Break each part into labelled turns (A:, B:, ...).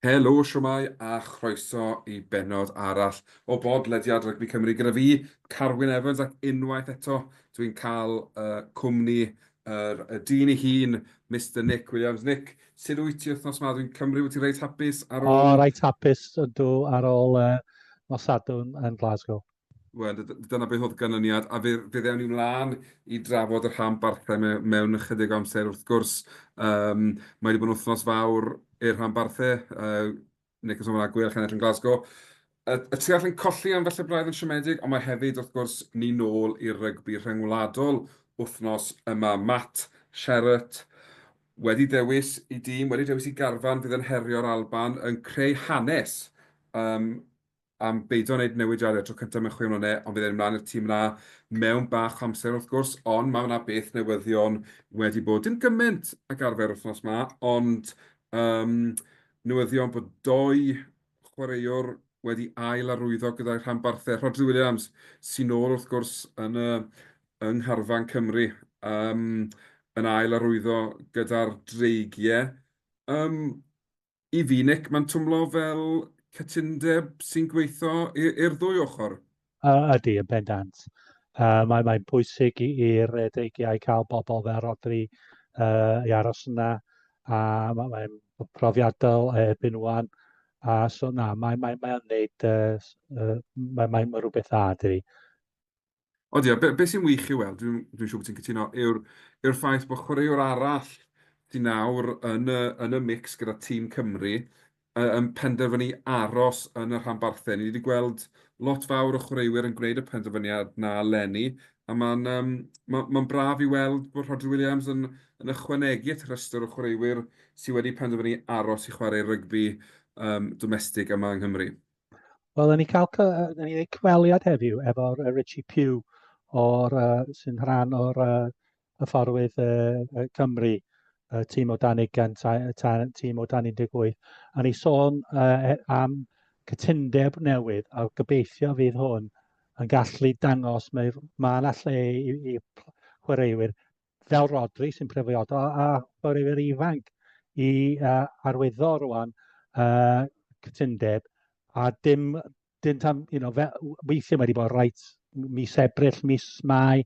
A: Helo, siwmai a chroeso i benod arall o bod lediad Rygbi Cymru gyda fi, Carwyn Evans, ac unwaith eto dwi'n cael uh, cwmni Yr y dyn ei hun, Mister Nick Williams. Nick, sut wyt ti wythnos ma? Dwi'n cymryd wyt ti reit hapus ar ôl... O, reit hapus ydw
B: ar ôl uh, nos Sadwrn yn Glasgow. Wel,
A: dyna beth oedd ganlyniad, a fe, fe ddewn ni mlaen i drafod y rhan barthau me, mewn ychydig amser wrth gwrs. Um, mae wedi bod yn wythnos fawr i'r rhan barthau, uh, Nick yn sôn bod 'na gweilch yn edrych yn Glasgow. Y, y tu allan colli am falle braidd yn siomedig, ond mae hefyd, wrth gwrs, ni nôl i'r rygbi rhyngwladol wythnos yma. Matt Sherratt wedi dewis i dîm, wedi dewis i garfan fydd yn herio'r Alban, yn creu hanes um, am beidio â wneud newidiadau tro cyntaf mewn chwe mlynedd, ond bydd e'n mynd mlaen i'r tîm yna mewn bach o amser wrth gwrs, ond mae yna beth newyddion wedi bod, dim gymaint ag arfer wythnos ma, ond yym newyddion bod dou chwaraewr wedi ail arwyddo gyda'i rhanbarthau, Rhodri Williams sy'n ôl wrth gwrs yn y yng ngharfan Cymru yym yn ail arwyddo gyda'r Dreigiau. Yym. I fi, Nick, mae'n twmlo fel cytundeb sy'n gweithio i'r ddwy ochr. Ydy, yn
B: bendant. Uh, Mae'n mae bwysig i'r dreigiau cael bobl fel Rodri uh, i aros yna, a mae'n mae profiadol erbyn wan. A so na, mae'n mae, mae neud, uh, mae'n mae, mae rhywbeth dda, dwi.
A: Ond ia, be be sy'n wych i'w weld, dwi'n dwi'n siŵr bod ti'n cytuno, yw'r yw'r ffaith bod chwaraewr arall sy nawr yn y yn y mix gyda tîm Cymru yy yn penderfynu aros yn y rhanbarthau. Ni 'di gweld lot fawr o chwaraewyr yn gwneud y penderfyniad 'na eleni, a ma'n yym ma' ma'n braf i weld bod Rhodri Williams yn yn ychwanegu at y rhestr o chwaraewyr sy wedi penderfynu aros i chwarae rygbi yym domestig yma yng Nghymru. Wel, yn ni
B: cael yn ni cyfweliad heddiw efo'r uh, Richie Pugh o'r, uh, sy'n rhan o'r uh, hyfforwydd uh, Cymru, uh, tîm o dan 20, tîm o dan 18, a ni sôn uh, am cytundeb newydd a gobeithio fydd hwn yn gallu dangos mae mae yna lle i, i chwaraewyr fel Rodri sy'n prefiodo a chwaraewyr ifanc i uh, arwyddo rwan uh, cytundeb a dim, dim tam, you know, fe, weithiau mae wedi bod rhaid mis Ebrill, mis Mai,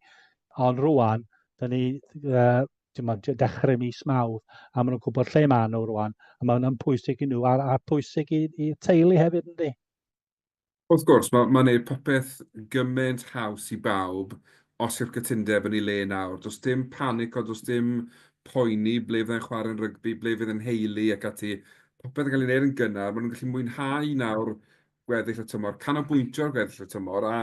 B: ond rwan, da ni uh, ma, dechrau mis mawr, a maen nhw'n gwybod lle maen nhw rwan, a maen nhw'n pwysig i nhw, a'r, a pwysig i, i teulu hefyd, ynddi? Wrth
A: gwrs, mae'n gwneud popeth gymaint haws i bawb os yw'r cytundeb yn ei le nawr. Does dim panico, does dim poeni ble fydda i'n chwarae'n rygbi, ble fydd 'y nheulu ac ati. Popeth yn cael ei wneud yn gynnar, maen nhw'n gallu mwynhau nawr gweddill y tymor, canolbwyntio ar gweddill y tymor a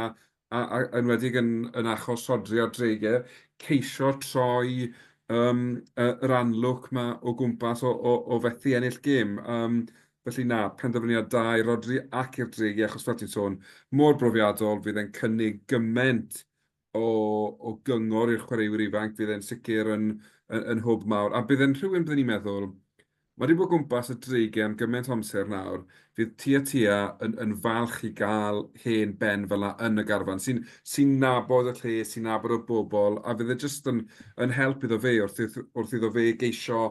A: a a yn enwedig yn yn achos sodri ar dreigiau, ceisio troi yym yy yr anlwc 'ma o gwmpas o o o fethu ennill gêm. Yym felly na, penderfyniad da i Rodri ac i'r dreigiau achos fel ti'n sôn, mor brofiadol, fydd e'n cynnig gymaint o o gyngor i'r chwaraewyr ifanc, fydd e'n sicr yn yn yn hwb mawr a bydd e'n rhywun byddwn i'n meddwl, Mae 'di bod gwmpas y dreigiau am gymaint o amser nawr, fydd Tia Tia yn yn falch i gael hen ben fel 'na yn y garfan, sy'n sy'n nabod y lle, sy'n nabod y bobl, a fydd e jyst yn yn help iddo fe wrth wrth wrth iddo fe geisio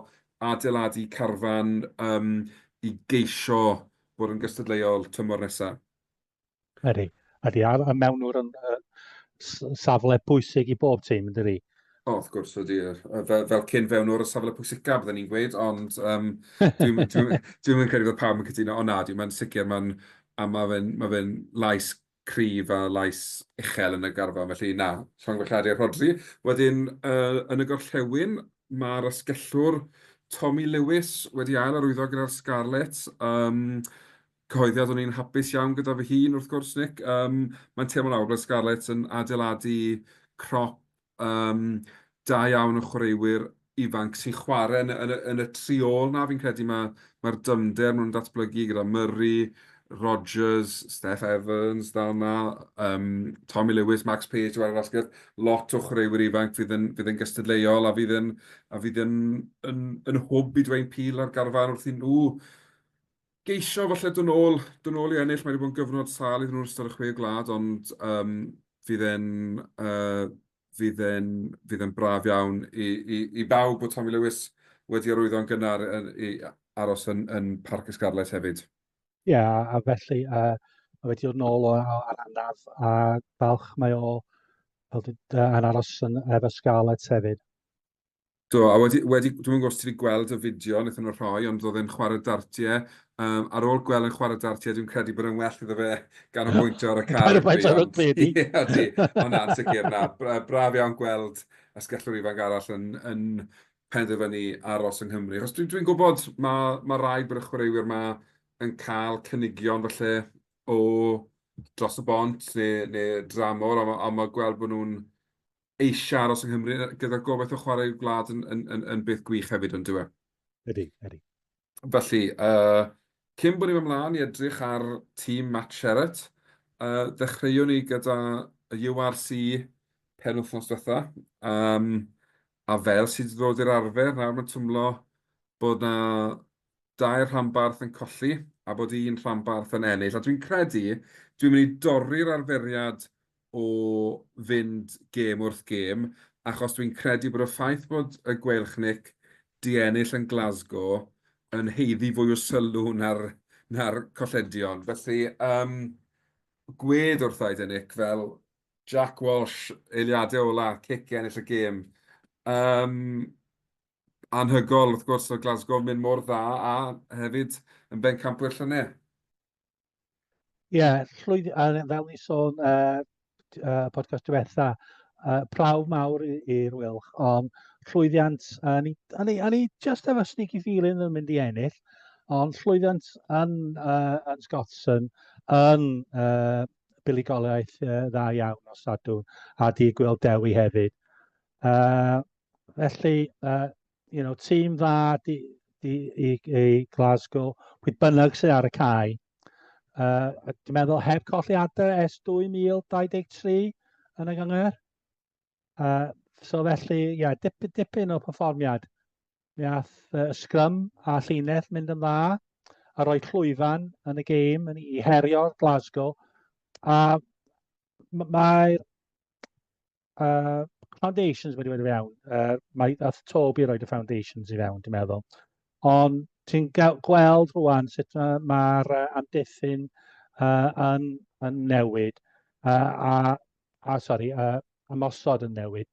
A: adeiladu carfan yym i geisio bod yn gystadleuol tymor nesa. Ydy,
B: ydy. A, a mewnwr yn uh, safle bwysig i bob tîm, ydy. O, oh, wrth gwrs, ydy.
A: Fel, fel cyn fewnwr y safle pwysicaf, byddwn ni'n gweud, ond um, dwi'n dwi, dwi, dwi, dwi credu bod pawb yn cytuno. O na, dwi'n mynd sicr, mae'n a mae fe'n ma fe lais cryf a lais uchel yn y garfan, felly na, rhan gwellhadu a rhodri. Wedyn, uh, yn y gorllewin, mae'r asgellwr Tommy Lewis wedi ail arwyddo gyda'r Scarlets. Um, Cyhoeddiad, o'n i'n hapus iawn gyda fy hun wrth gwrs Nick, yym mae'n teimlo nawr fel Scarlets yn adeiladu crop yym da iawn o chwaraewyr ifanc sy'n chwarae yn yn yn y tri ôl 'na, fi'n credu ma' ma'r dyfnder maen nhw'n datblygu gyda Murray, Rodgers, Steff Evans dal 'na, yym Tommy Lewis, Max Page yn chwarae basged, lot o chwaraewyr ifanc fydd yn fydd yn gystadleuol a fydd yn a fydd yn yn yn hwb i Dwayne Peel a'r garfan wrth i nhw geisio falle dod nôl, dod nôl i ennill, mae wedi bod yn gyfnod sâl iddyn nhw yn ystod y chwe gwlad, ond um, fydd e'n uh, fydd e'n fydd e'n braf iawn i, i, i bawb bod Tommy Lewis wedi arwyddo'n gynnar yn, i aros yn, yn Parc y Scarlet hefyd. Ie, yeah, a
B: felly uh, mae wedi dod nôl o'r anaf a balch mae o fel yn aros yn efo Scarlet hefyd. Do,
A: a wedi, wedi, dwi'n gwybod os ti wedi gweld y fideo wnaethon nhw rhoi, ond oedd e'n chwarae dartiau. Um, ar ôl gweld yn chwarae dartiau, dwi'n credu bod e'n well iddo fe gan ganolbwyntio ar y car. Ganolbwyntio ar y
B: bedi. Ie,
A: ydy. Ond na, sicr, na. Braf iawn gweld ysgellwr ifanc arall yn, yn penderfynu aros yng Nghymru. Os dwi'n dwi gwybod, mae, mae rai bod y chwaraewyr yma yn cael cynigion falle o dros y bont neu, neu dramor, ond mae, ond mae gweld bod nhw'n eisiau aros yng Nghymru, gyda'r gobaith o chwarae i'w gwlad yn, yn, yn, yn beth gwych hefyd, ond dwi e? Ydy, ydy.
B: Felly,
A: uh, cyn bod ni'n ymlaen i edrych ar tîm Matt Sherratt, uh, ddechreuwn ni gyda y URC pen wythnos diwetha, um, a fel sydd wedi ddod i'r arfer, nawr mae'n twmlo bod na dair rhanbarth yn colli a bod un rhanbarth yn ennill. A dwi'n credu, dwi'n mynd i dorri'r arferiad o fynd gêm wrth gêm, achos dwi'n credu bod y ffaith bod y Gweilchnic 'di ennill yn Glasgow yn haeddu fwy o sylw na'r na'r colledion. Felly, yym, gwed wrtha i de Nick, fel Jack Walsh, eiliadau ola, cic i ennill y gêm. Yym... anhygoel wrth gwrs o Glasgow mynd mor dda a hefyd yn bencampwyr llynedd. Ie,
B: yeah, llwyd, a fel ni sôn uh, uh, podcast diwetha, uh, prawf mawr i'r Wilch, ond llwyddiant, a ni, a ni, a ni just efo sneaky feeling yn mynd i ennill, ond llwyddiant yn, uh, yn Scottson, yn uh, buligoliaeth uh, dda iawn o Sadwn, a di gweld Dewi hefyd. Uh, Felly, uh, you know, tîm dda di, di, i, i Glasgow, pwy bynnag sydd ar y cae. Uh, dwi'n meddwl heb colli adre es 2023 yn y gyngor. Uh, so felly, ie, yeah, dip, dipyn o perfformiad. Mi ath uh, sgrym a llinell mynd yn dda a roi llwyfan yn y gêm yn i herio Glasgow. A mae'r Uh, foundations wedi wedi fe iawn. Uh, mae ath Toby i roed y foundations i fewn, dwi'n meddwl. Ond ti'n gweld rwan sut mae'r ma uh, amddiffyn uh, yn, yn newid uh, a, a sorry, uh, ymosod yn newid.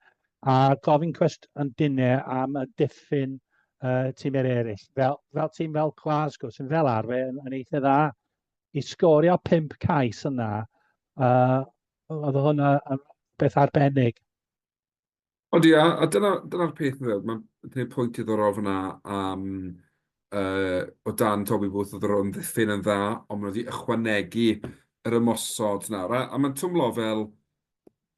B: A gofyn cwest yn dinau am y diffyn uh, tîmau eraill. Fel, fel tîm fel Glasgow sy'n fel arfer yn, yn eitha dda i sgorio pimp cais yna uh, Oedd hwnna yn beth arbennig.
A: Ond ia, a dyna'r dyna peth dwi'n feddwl, mae'n gwneud pwynt diddorol fanna am uh, o dan Toby Booth oedd yr o'n ddiffyn yn dda, ond maen nhw wedi ychwanegu yr ymosod nawr. A, a mae'n twmlo fel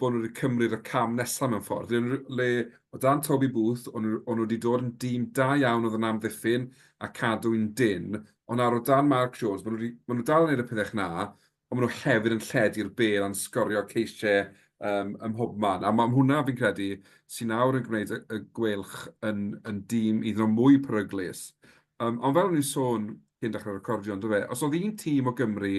A: bod nhw wedi cymryd y cam nesaf mewn ffordd. Le, le o dan Toby Booth, o'n nhw wedi dod yn dîm da iawn oedd yn amddiffyn a cadw'n dyn, ond nawr o dan Mark Jones, maen nhw, wedi, maen nhw dal yn gwneud y pethau na, Ond maen nhw hefyd yn lledu'r bêl a'n sgorio ceisiau ym mhobman. A mae hwnna, fi'n credu, sydd nawr yn gwneud y Gweilch yn dîm hyd yn oed mwy peryglus. Ond fel o'n i'n sôn cyn dechrau recordio, yn do fe, os oedd un tîm o Gymru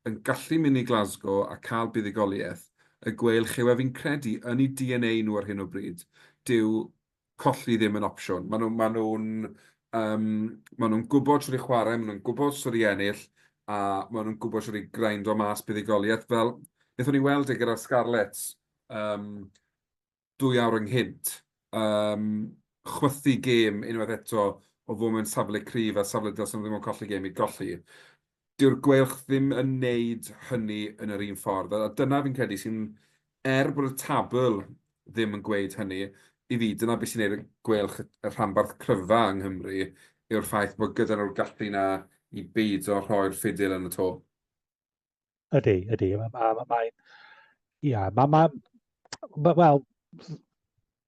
A: yn gallu mynd i Glasgow a cael buddugoliaeth, y Gweilch yw e, fi'n credu, yn eu DNA nhw ar hyn o bryd. Dyw colli ddim yn opsiwn. Maen nhw, maen nhw'n, yym, maen nhw'n gwybod shwt i chwarae, maen nhw'n gwybod shwt i ennill, a maen nhw'n gwybod shwt i grind o mas buddugoliaeth. Fel, wnaethon ni weld e gyda'r Scarlets um, dwy awr ynghynt, um, chwythu gêm unwaith eto o fod mewn safle cryf a safle dylsyn nhw ddim yn colli gêm i golli. Dyw'r gweilch ddim yn neud hynny yn yr un ffordd, a dyna fi'n credu sy'n, er bod y tabl ddim yn gweud hynny, i fi, dyna beth sy'n neud y gweilch y rhanbarth cryfa yng Nghymru, yw'r ffaith bod gyda nhw'r gallu 'na i beido rhoi'r ffidil yn y to.
B: Ydy, ydy. Mae, mae, mae Ia, ma' ma' ma' wel,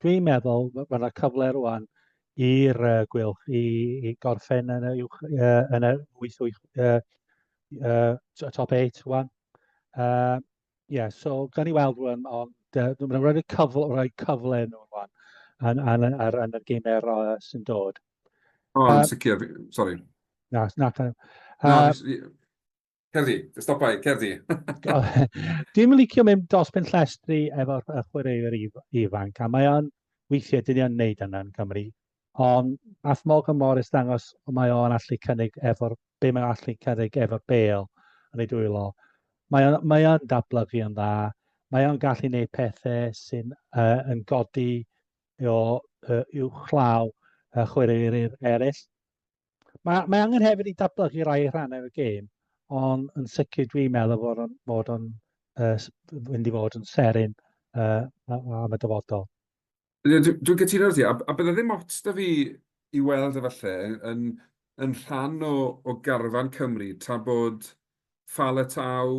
B: dwi'n meddwl ma' ma' 'na cyfle rŵan i'r yy Gweilch i i gorffen yn y uwch yy yn yr wyth wyth yy yy t- top eight rŵan. Yy ie so gawn ni weld rŵan ond yy dwi'n meddwl rhaid y cyfle rhoi cyfle i nhw rŵan yn yn yn ar yn y gemau yy sy'n dod. O yn
A: sicr, sori. Na, na ta-
B: yy... Na, fi s- fi...
A: Cerddi, stopai, cerddi.
B: Dwi'n licio mynd dos pen llestri efo'r chwaraewyr ifanc, a mae o'n weithiau dyn ni'n neud yna yn Cymru. Ond ath Morgan Morris dangos mae o'n allu cynnig efo'r, be mae'n allu cynnig efo'r bel yn ei dwylo. Mae o'n, mae o'n dablygu yn dda, mae o'n gallu neud pethau sy'n uh, yn godi o uh, uwchlaw uh, chwaraewyr eraill. Mae, mae angen hefyd i datblygu rai rhannau y gêm, ond yn sicr dwi'n meddwl fod o'n, fod o'n uh, fynd i fod yn serin uh, am y dyfodol. Dwi'n dwi
A: gytuno ar ti, a, a bydde ddim ots da fi i weld efallai yn, yn rhan o, o garfan Cymru tra bod Fala Tau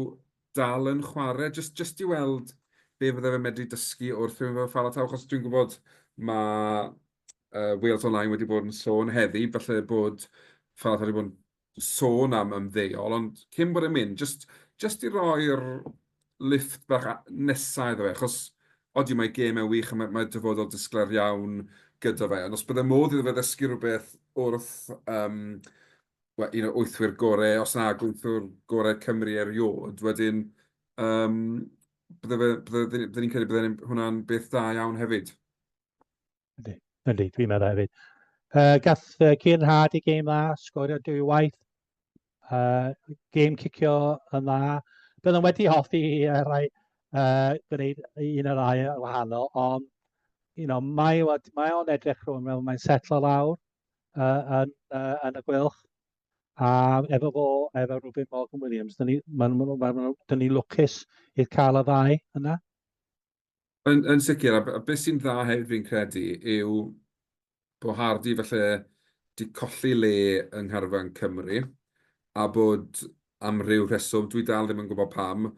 A: dal yn chwarae, jyst jyst i weld be fydde fe'n medru dysgu wrth mynd fel Fala Tau, achos dwi'n gwybod ma' yy Wales Online wedi bod yn sôn heddi falle bod Fala Tau wedi bod yn sôn am ymddeol, ond cyn bod e'n mynd, jyst jyst i roi'r lifft bach a- nesa iddo fe, achos odi mae gêm e'n wych a ma' mae dyfodol disglair iawn gyda fe, ond os bydde modd iddo fe ddysgu rywbeth wrth yym wel, un o wythwyr gorau, os na gwythwr gorau Cymru erioed, wedyn um, bydde, bydde, bydde ni'n credu bydde hwnna'n beth da iawn hefyd. Ydy,
B: ydy, dwi'n meddwl hefyd. Uh, gath uh, Cian Hard i game dda, sgorio dwy waith. Uh, game cicio yn dda. Byddwn wedi hoffi i uh, rai uh, gwneud un o'r rai wahanol, ond you know, mae, mae o'n edrych rhwng fel mae'n setlo lawr. yy yn yy yn y gweilch a efo fo efo Rubin Morgan Williams, dyn ni, maen nhw'n, maen nhw, dyn ni lwcus i cael y ddau yna. Yn,
A: yn sicr, a, a beth sy'n dda hefyd fi'n credu yw bod Hardy falle di colli le yng ngharfan Cymru, a bod am ryw rheswm, dwi dal ddim yn gwybod pam,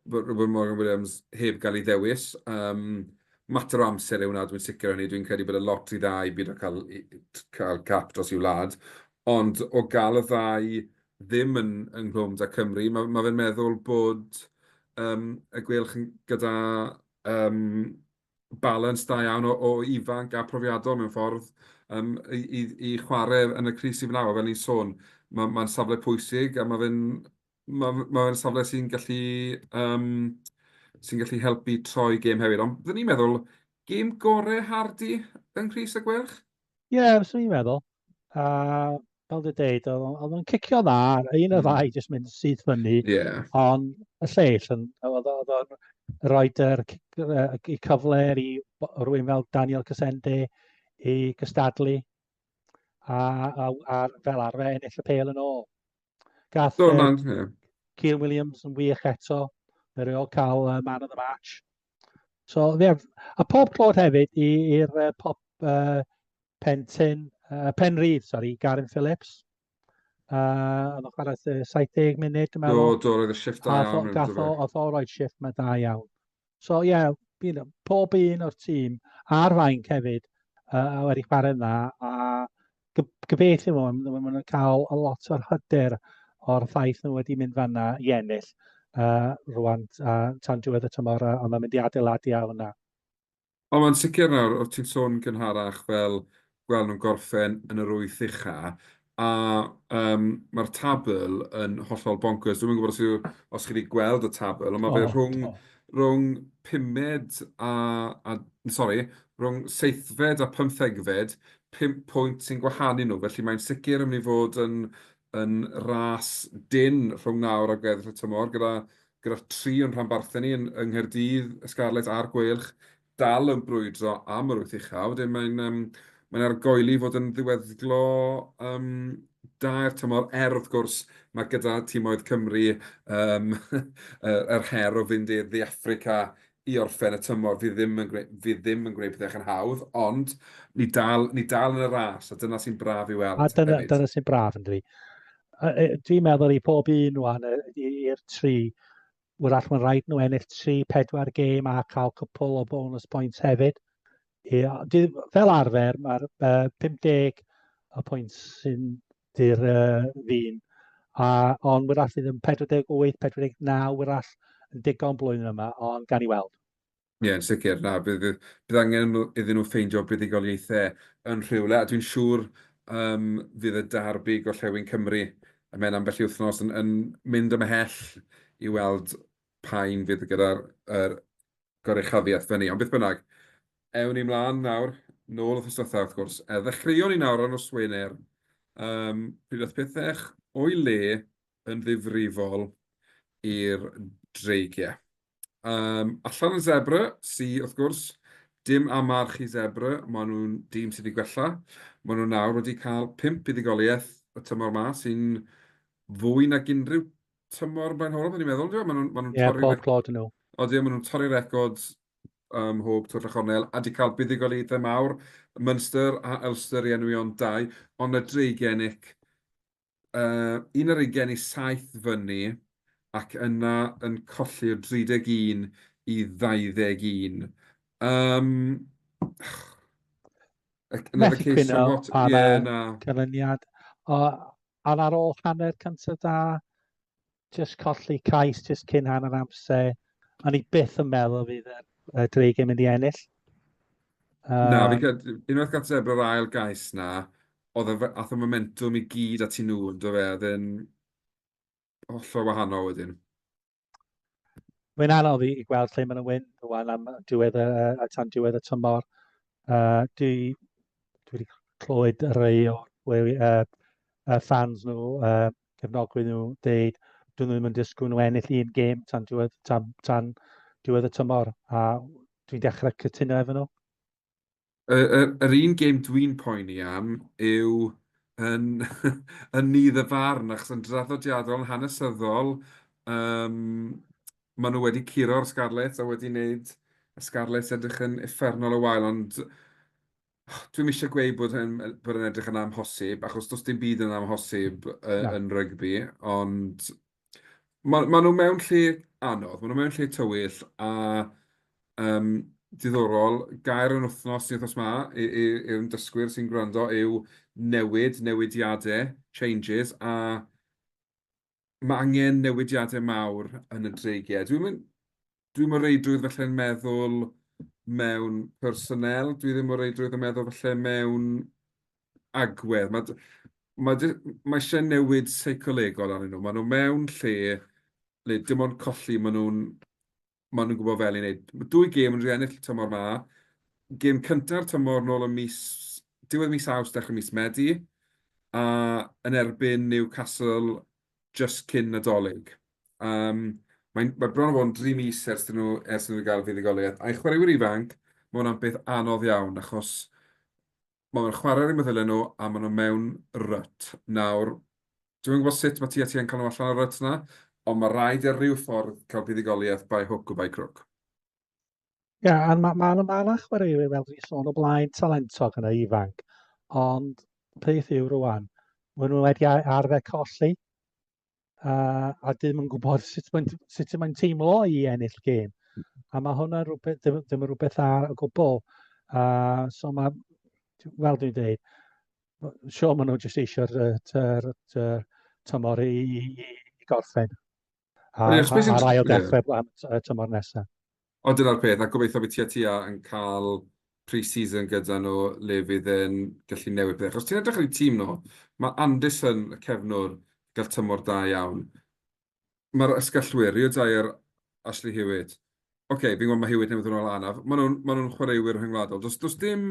A: bod Robin Morgan Williams heb gael ei ddewis. Um, mater o amser yw hwnna, dwi'n sicr hynny. Dwi'n credu bod y lot i dda i byd o cael, cael cap dros i'w wlad. Ond o gael y ddau ddim yn ynghlwm da Cymru, mae, mae fe'n meddwl bod um, y gwelch gyda um, balans da iawn o ifanc a phrofiadol mewn ffordd i chwarae yn y crys sydd fan'na. Fel o'n i'n sôn, mae'n safle pwysig a mae fe'n safle sy'n gallu helpu troi gêm hefyd. Ond byddwn i'n meddwl, gêm gorau Hardy yng Nghrys y Gweilch? Ie, fyswn i'n
B: meddwl. A fel dwi'n dweud, oedd o'n cicio dda, un o'r hmm. ddau jyst mynd syth fyny. Yeah. Ond y lleill, oedd o'n rhoi yr, y cyfle i rwy'n fel Daniel Casende i gystadlu a, a, a fel arfer ennill y pel yn ôl. Gath Cian Williams yn wych eto, fe reol cael uh, man of the match. So, ie, yeah. a pob clod hefyd i'r uh, pop uh, Pentin, uh, Penrhydd, sori, Garin Phillips. Uh, oedd o'n chwarae 70 munud, dwi'n meddwl. Do, do, roedd y shift da iawn.
A: Gath o, oedd o roed
B: shift mae da iawn. So, ie, yeah, pob un o'r tîm, a'r fainc hefyd, uh, wedi chwarae yna, a gobeithio fo, maen nhw'n cael a lot o'r hyder o'r ffaith nhw wedi mynd fanna i ennill uh, rwan uh, tan diwedd y tymor, uh, ond mae'n mynd i adeiladu a hwnna. Ond mae'n
A: sicr nawr, o ti'n sôn gynharach fel gweld nhw'n gorffen yn yr wyth ucha, a um, mae'r tabl yn hollol bonkers. Dwi'n gwybod os, yw, os chi wedi gweld y tabl, ond mae fe rhwng, oh. rhwng pumed a, a sorry, rhwng seithfed a pymthegfed, pump pwynt sy'n gwahanu nhw, felly mae'n sicr yn mynd i fod yn yn ras dynn rhwng nawr a gweddill y tymor, gyda gyda tri o'n rhanbarthau ni yn yng Nghaerdydd, y Scarlets a'r Gweilch, dal yn brwydro am yr wyth ucha. Wedyn mae'n um, mae'n argoeli fod yn ddiweddglo um, da i'r tymor, er wrth gwrs mae gyda tîmoedd Cymru um, yr her o fynd i'r ddi Africa i orffen y tymor fydd ddim yn gwneud, fydd ddim yn gwneud pethau yn hawdd, ond ni dal, ni dal yn y ras, a dyna sy'n braf i weld. A dyna, dyna sy'n braf
B: yn dwi. Dwi'n meddwl i pob un o'n i'r tri, wrach mae'n rhaid nhw ennill tri, pedwar gêm a cael cwpl o bonus points hefyd. I, fel arfer, mae'r uh, 50 y pwynt sy'n Dy'r uh, ddyn. A, ond wyrach fydd yn 48, 49 wyrach yn digon blwyddyn yma, ond gan i weld. Ie, yn sicr.
A: Na, bydd, bydd angen iddyn nhw ffeindio buddugoliaethau yn rhywle, a dwi'n siŵr um, fydd y darbu gorllewin Cymru y mewn ambell i wythnos yn, yn mynd ymhell i weld pa un fydd gyda'r er, goruchafiaeth fyny. Ond beth bynnag, ewn ni mlaen nawr, nôl wrthnos diwetha wrth gwrs. E, ddechreuon ni nawr ar nos Wener, um, pryd oedd pethau o'i le yn ddifrifol i'r dreigiau. Um, allan yn Zebra, si wrth gwrs, dim amarch i Zebra, maen nhw'n dîm sydd wedi gwella. Maen nhw nawr wedi cael pimp buddugoliaeth y tymor yma sy'n fwy nag unrhyw tymor blaenhorol, dwi'n meddwl, dwi'n meddwl, maen nhw'n yeah, torri... Ie, pob clod nhw. O, dwi'n
B: maen nhw'n torri
A: record um, hwb Twll a Chornel, a di cael buddugoliaethau mawr, Munster a Ulster i enwi ond dau, ond y dreigenig, uh, un ar ugen i saith fyny, ac yna yn colli o 31 i 21. Um,
B: Methu cwyno
A: pa yeah,
B: na. canlyniad. O, Ond ar ôl hanner cyntaf da, jyst colli cais jyst cyn hanner amser, o'n i byth yn meddwl fydd y, y Dreigiau yn mynd i ennill. Um,
A: na, fi cael, unwaith gael sef yr ail gais na, oedd y, ath y momentum i gyd at i nhw, yn dweud fe, oedd yn... hollol wahanol wedyn.
B: Mae'n anodd i, i gweld lle mae'n wyn rwan am diwedd y, a tan diwedd y tymor. Uh, dwi, dwi wedi clywed rhai o weri, uh, uh, fans nhw, uh, cefnogwyr nhw, dweud, dyn nhw ddim yn disgwyl nhw ennill un gêm tan diwedd, tan, tan diwedd y tymor, a dwi'n dechrau cytuno efo nhw. Y y
A: yr un gêm dwi'n poeni am yw yn yn nydd y farn, achos yn draddodiadol, yn hanesyddol, yym maen nhw wedi curo'r Scarlets a wedi wneud y Scarlets edrych yn uffernol o wael, ond dwi'm eisiau gweud bod e'n bod e'n edrych yn amhosib, achos does dim byd yn amhosib yy yn rygbi, ond Maen maen nhw mewn lle anodd, maen nhw mewn lle tywyll a yym diddorol. Gair yr wythnos i wythnos 'ma i i i'r ymdysgwyr sy'n gwrando yw newid, newidiadau, changes, a ma' angen newidiadau mawr yn y dreigiau. Dwi'm yn... Dwi mor reidrwydd falle yn meddwl mewn personnel, dwi ddim mor reidrwydd yn meddwl falle mewn agwedd. Mae d- mae d- mae eisiau newid seicolegol arnyn nhw. Maen nhw mewn lle le dim ond colli, maen nhw'n maen nhw'n gwybod fel i wneud. Mae dwy gêm yn rhy ennill y tymor ma. Gêm cynta'r tymor nôl yn mis... diwedd mis Awst, dechrau mis Medi, a yn erbyn Newcastle jyst cyn Nadolig. Yym, mae'n... mae bron a bod yn dri mis ers iddyn nhw... ers iddyn nhw gael fuddugoliaeth. A'i chwaraewyr ifanc, mae hwnna'n beth anodd iawn, achos maen nhw'n chwarae ar eu meddyliau nhw a maen nhw mewn rut. Nawr, dwi'm yn gwybod sut mae TFT yn cael nhw allan o'r rut 'na, ond mae rhaid ar ryw ffordd cael buddugoliaeth by hook or by crook.
B: Ie, yeah, a mae yna ma, ma chwaraewyr fel dwi'n sôn o blaen talentog yn y ifanc, ond peth yw rwan, maen nhw wedi arfer colli, uh, a dyn nhw'n gwybod sut mae'n sut mae'n teimlo i ennill gêm. A mae hwnna rhywbeth, ddim, ddim rhywbeth dda o gwbl. Uh, so mae, fel dwi'n dweud, sio maen nhw jyst eisiau'r tymor i, i, i gorffen. A'r ail ddechrau am y tymor nesaf. O, dyna'r peth, a
A: gobeithio bydd Tia Tia yn cael pre-season gyda nhw le fydd e'n gallu newid pethau. Achos ti'n edrych ar eu tîm nhw, mae Anderson, y cefnwr, yn cael tymor da iawn. Mae'r ysgallwyr, Rio Dyer, Ashley Hewitt. Ocê, fi'n gwybod mae Hewitt newydd ddod nôl anaf. Maen nhw'n, maen nhw'n chwaraewyr rhyngwladol. Does, does dim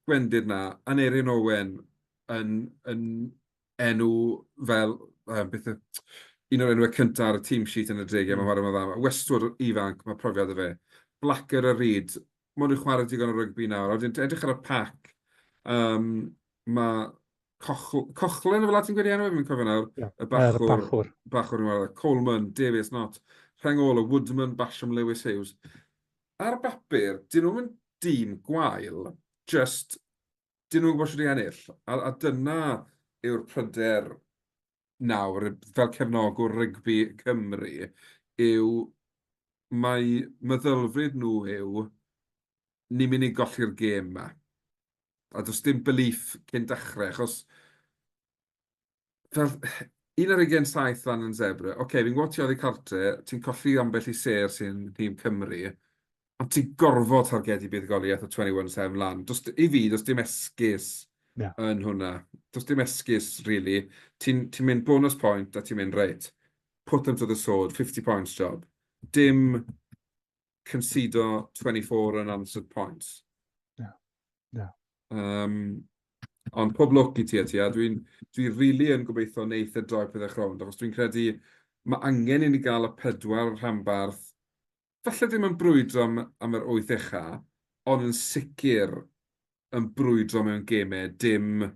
A: gwendid 'na. Aneurin Owen yn, yn enw fel yy beth yw un o'r enwau cynta ar y team sheet yn y degau, mae'n chwarae mor dda. Mae Westwood yn ifanc, mae profiad 'da fe. Blacker a Reid, maen nhw'n chwarae digon o rygbi nawr. A wedyn edrych ar y pac, yym, mae Coch- Coughlan efallai ti'n gweud ei enw e, fi'm yn cofio nawr. Ie, y bachwr. Y bachwr. Bachwr yn chwarae 'da. Coleman, Davies, Nott, Rhengolo, Woodman, Basham, Lewis, Hughes. Ar bapur, 'dyn nhw'm yn dîm gwael, jyst 'dyn nhw'n gwybod shwt i ennill, a a dyna yw'r pryder nawr fel cefnogwr rygbi Cymru yw mai meddylfryd nhw yw 'ni'n mynd i golli'r gêm 'ma', a does dim belief cyn dechrau achos fel, un ar ugen saith lan yn zebra, oce, okay, fi'n gwybod ti oddi cartre, ti'n colli ambell i ser sy'n nhîm Cymru, ond ti'n gorfod targedu buddugoliaeth o 21-7 lan. Does, I fi, does dim esgus yeah. yn hwnna. Does dim esgus, really. Ti'n ti mynd bonus point a ti'n mynd, reit, put them to the sword, 50 points job. Dim concedo 24 unanswered
B: points. Na,
A: na. Um, ond pob lwc i ti a ti, a dwi'n dwi really yn gobeithio wneud y droi pethau chrownd, achos dwi'n credu mae angen i ni gael y pedwar rhanbarth, falle ddim yn brwydro am, am yr wyth echa, ond yn sicr yn brwydro mewn gemau, dim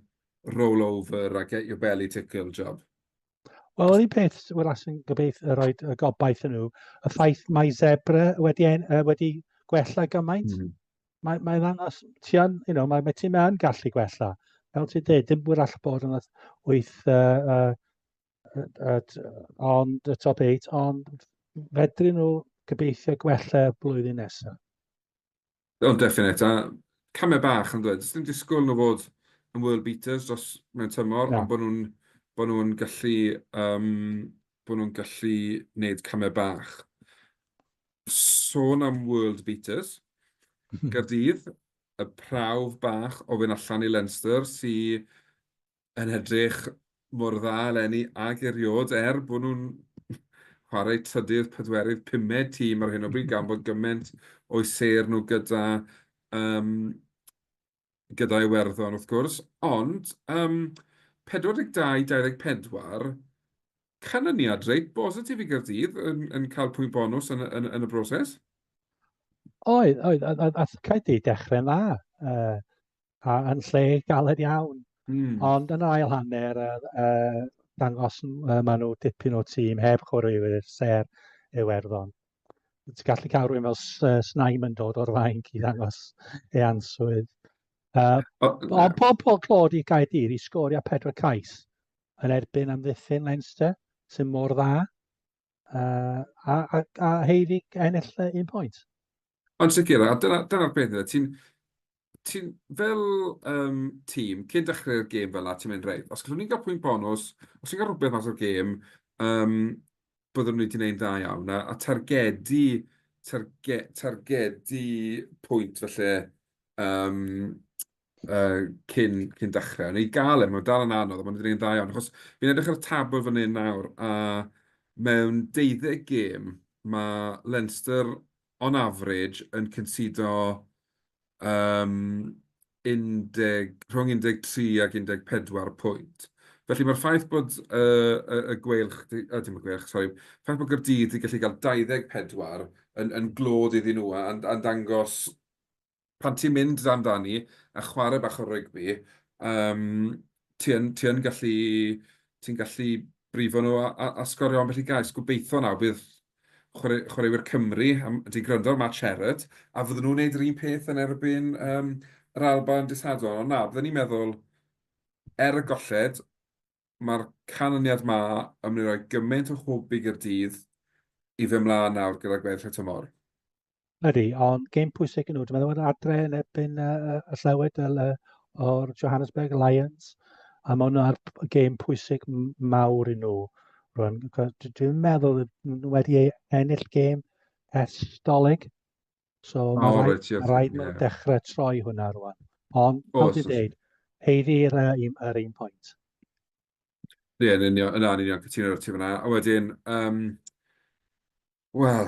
A: roll over a get your belly tickle job. Wel, yr
B: un peth, wel, as yn gobeith y rhoi y gobaith yn nhw, y ffaith mae Zebra wedi, en, uh, wedi gwella gymaint, mm. mae'n mae ddangos, ti yn, you know, mae, mae tîm yn gallu gwella. Fel ti'n dweud, dim bwyr all bod yn wyth, uh, uh, uh, ond y top 8, ond fedryn nhw gobeithio gwella blwyddyn nesaf.
A: O, definate. A camau bach, yn doedd. Does dim disgwyl nhw fod yn world beaters dros... mewn tymor, ond bod nhw'n bod nhw'n gallu yym bod nhw'n gallu wneud camau bach. Sôn am world beaters, Caerdydd, y prawf bach o fynd allan i Leinster sy yn edrych mor dda eleni ag erioed, er bod nhw'n chwarae trydydd, pedwerydd, pumed tîm ar hyn o bryd, gan bod gymaint o'i sêr nhw gyda, um, gyda Iwerddon wrth gwrs, ond um, 42-24, canlyniad reit bositif i Gyrdydd yn, yn cael pwynt bonus yn, yn, yn y broses?
B: Oedd, oedd, a, a, a cael di dechrau'n dda. Uh, a yn lle galed iawn. Mm. Ond yn yr ail hanner, uh, uh, dangos uh, maen nhw dipyn o tîm heb chwaraewyr ser yw erddon. Ti'n gallu cael rhywun fel Snaim yn dod o'r fain i ddangos ei answydd. Uh, ond pob pob clod i Gaerdydd i sgorio pedwar cais yn erbyn amddiffyn Leinster sy'n mor dda uh, a, a, a heiddi ennill un pwynt. Yn sicr,
A: a dyna dyna'r peth yw e, ti'n ti'n... fel yym tîm, cyn dechrau'r gêm fel 'na, ti'n mynd reit, os gallwn ni gael pwynt bonws, os ni'n cael rhywbeth mas o'r gêm, yym byddwn ni 'di wneud yn dda iawn. A a targedu targe- targedu pwynt falle yym yy, cyn, cyn dechrau. Neu gael e, mae'n dal yn anodd, ond mae'n dweud yn dda iawn. Achos fi'n edrych ar y tabl fan hyn nawr, a mewn 12 gêm, mae Leinster on average yn cyntsudo um, 10, rhwng 13 ac 14 pwynt. Felly mae'r ffaith bod y, y, y gweilch, a dim y gweilch, sori, ffaith bod Gyrdydd wedi gallu cael 24 yn, yn glod iddyn nhw a'n, a dangos pan ti'n mynd dan fani a chwarae bach o rygbi, yym, ti yn, ti yn gallu, ti'n gallu brifo nhw a, a, a sgorio ambell i gais. Gobeithio nawr bydd chwarae, chwaraewyr Cymru, am, ti'n gwrando ar Matt Sherrod, a fydden nhw'n gwneud yr un peth yn erbyn um, yr Alba yn disadol. Ond na, byddwn ni'n meddwl, er y golled, ma'r canlyniad 'ma yn mynd i roi gymaint o hwb i Gaerdydd i fyn' mlan nawr gyda gweddill y tymor. Ydy,
B: ond gêm pwysig yn nhw. Dwi'n meddwl bod adre yn erbyn y, y, y llewed o'r Johannesburg Lions, a mae hwnna'r gêm pwysig mawr i nhw. Rwan, dwi'n meddwl nhw wedi ennill gêm ers dolyg. So oh, mae rhaid, right, yeah, rhaid yeah. dechrau troi hwnna rwan. Ond, oh, ti'n dweud, heiddi yr, yr un pwynt.
A: Ie, yn union, yna, yn union, cytuno ar ti fyna. A wedyn, um, wel,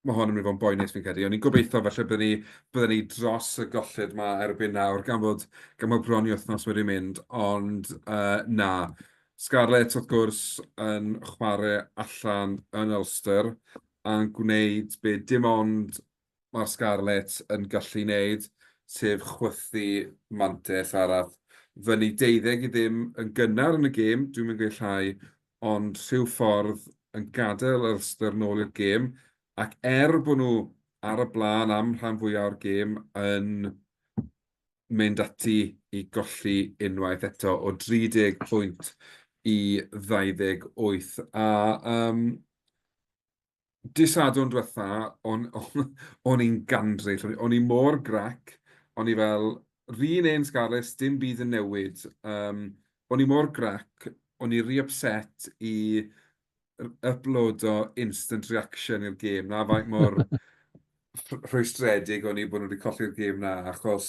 A: mae hon yn mynd i fod yn boenus fi'n credu. O'n i'n gobeithio felly byddwn ni, byddwn ni dros y golled yma erbyn nawr, gan fod, gan fod bron i wythnos wedi mynd, ond uh, na. Scarlett, wrth gwrs, yn chwarae allan yn Ulster, a'n gwneud be dim ond mae'r Scarlets yn gallu wneud, sef chwythu mantais arall. Fyny deuddeg i ddim yn gynnar yn y gêm, dwi'm yn gweud llai, ond rhyw ffordd yn gadael Ulster nôl i'r gêm, ac er bod nhw ar y blaen am rhan fwya' o'r gêm yn mynd ati i golli unwaith eto o 30 pwynt i 28. A yym dydd Sadwrn diwetha, o'n o'n i'n gandryll, o'n i mor grac, o'n i fel, 'r un un Scarlets, dim byd yn newid. Yym, o'n i mor grac, o'n i ry ypset i yplodo instant reaction i'r gêm 'na faint mor rh- rhwystredig o'n i bod nhw wedi colli'r gêm 'na achos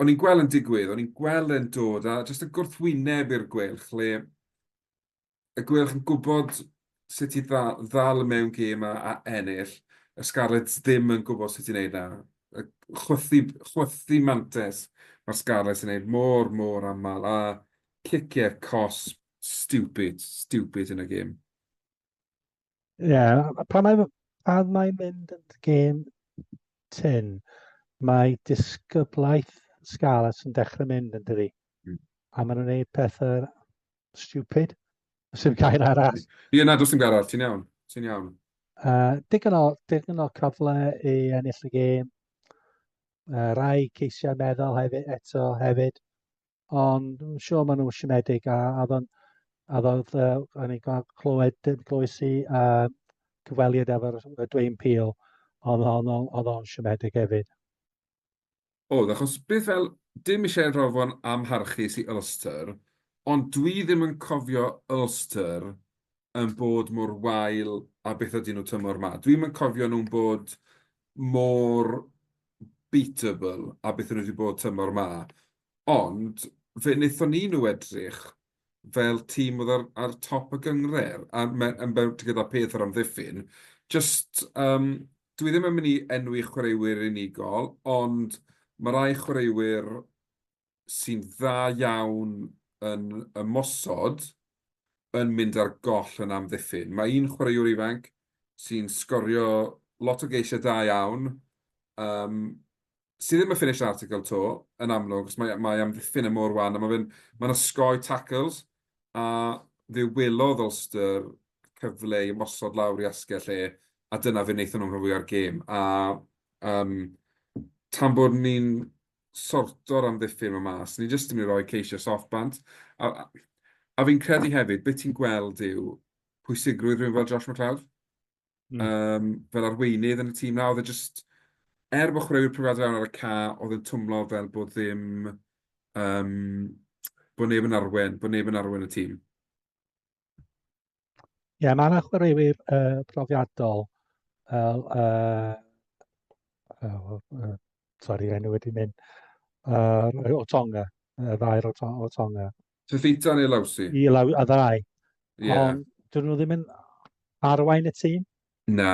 A: o'n i'n gweld e'n digwydd, o'n i'n gweld e'n dod a jyst y gwrthwyneb i'r Gweilch le y Gweilch yn gwybod sut i dda- ddal y mewn gêm a a ennill, y Scarlets ddim yn gwybod sut i wneud 'na. Y chwythu chwythu mantais ma'r Scarlets yn wneud mor mor aml a ciciau cosb stupid, stupid yn y gêm. Ie, yeah,
B: pan mae, pan mae mynd yn gêm tyn, mae disgyblaeth Scarlets yn dechrau mynd yn dydi. Mm. A maen nhw'n gwneud pethau stupid. Os yw'n cael arall. Ie, na, dos dim gair arall,
A: ti'n iawn. Ti'n iawn. Uh, digon,
B: o, digon o cyfle i ennill y gêm. Uh, rai ceisiau meddwl hefyd, eto hefyd. ond yn siŵr maen nhw'n siomedig a a oedd o'n a oedd yy o'n i'n cael clywed glywais i yy cyfweliad efo'r yy Dwayne Peel oedd o'n oedd o'n siomedig hefyd.
A: Oedd achos beth fel dim eisiau rhoi fo'n amharchus i Ulster ond dwi ddim yn cofio Ulster yn bod mor wael a beth ydyn nhw tymor ma. Dwi'm yn cofio nhw'n bod mor beatable a beth nhw wedi bod tymor ma. Ond fe wnaethon ni nhw edrych fel tîm oedd ar ar top y gynghrair, a me- yn be- gyda peth yr amddiffyn, jyst yym dwi ddim yn mynd i enwi chwaraewyr unigol, ond ma' rai chwaraewyr sy'n dda iawn yn ymosod yn mynd ar goll yn amddiffyn. Mae un chwaraewr ifanc sy'n sgorio lot o geisiau da iawn, yym sy ddim yn finished article 'to, yn amlwg, achos mae, mae amddiffyn yn mor wan, a mae fe'n, mae'n osgoi tackles, a fe welodd Ulster cyfle i ymosod lawr i asgell e, a dyna fe wnaethon nhw'n rhan fwya'r gêm. A um, tan bod ni'n sorto'r amddiffyn yma mas, ni jyst yn ei roi ceisio soft bant. A, a fi'n credu hefyd, beth ti'n gweld yw pwysigrwydd rhywun fel Josh McLeod? mm. um, fel arweinydd yn y tîm na, oedd e just, er bod chwaraewyr profiadau fewn ar y ca, oedd yn twmlo fel bod ddim, um, bod neb yn arwen, bod neb yn arwen y tîm.
B: Ie, yeah, mae yna chwaraewyr uh, profiadol fel... Uh, uh, uh, sorry, enw wedi mynd. Uh, o Tonga, y ddair o, to, o Tonga. Fifita neu
A: Lawsi? Ie, Law- y ddau.
B: Ie.
A: Ond dyn nhw ddim yn
B: arwain y tîm. Na,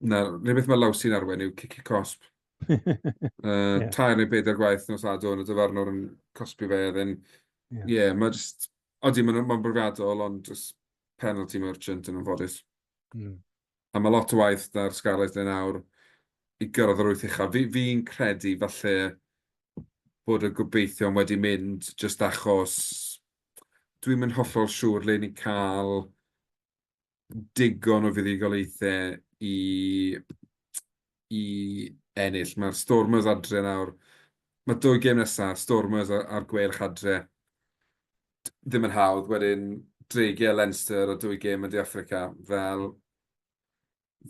A: na, rhywbeth beth mae Lawsi'n arwain yw cici cosp. uh, yeah. Tair neu bedair gwaith nos adwn, y dyfarnwr yn cosbi fe, oedd yn... Ie, yeah. yeah, mae jyst... Odi, mae'n ma brofiadol, ond jyst penalty merchant yn ymfodus. Mm. a mae lot o waith 'da'r Scarlets yn awr i gyrraedd yr wyth uchaf. Fi fi'n credu falle bod y gobeithion wedi mynd jyst achos dwi'n mynd hollol siŵr le ni'n cael digon o fuddugoliaethau i i ennill. Mae'r Stormers adre nawr. Mae dwy gêm nesaf, Stormers a'r Gweilch adre. Ddim yn hawdd. Wedyn, Dreigiau, Leinster a dwy gêm yn De Affrica. Fel,